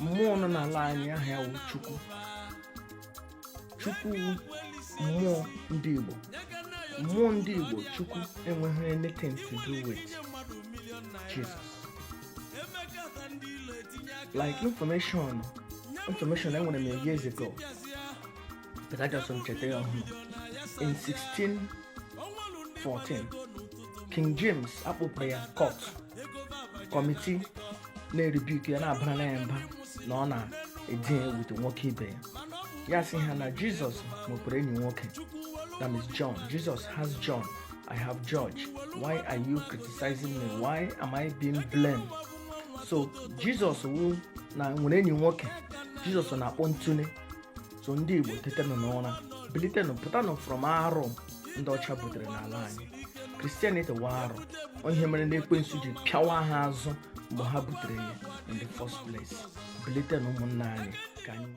mmụọ nọ n'ala anyị aha ya wụ chukwu chukwu mmụọ ndị igbo mmụọ ndị igbo chukwu enweghị anything to do with jesus like information enwere m years ago But I just want to tell you, in 1614, King James akpụpụrụ ya court committee na-erebuke ya na-abara na ya mba na ọ na-edinye with nwoke ibe ya ya sị ha na Jizọs nwekwara enyi nwoke that is John Jesus has John I have George why are you criticizing me why am I being blamed so Jizọs wu na nwere enyi nwoke Jizọs na-akpọ ntụne so ndị igbo tetenụ n'ụra bilitenụ pụtanụ from arụ ndị ọcha butere n'ala anyị christianity wụ arụ ihe mere na ekwensu ji pịawa ha azụ mgbe ha butere ya in the first place bilitenụ ụmụnna anyị ka anyị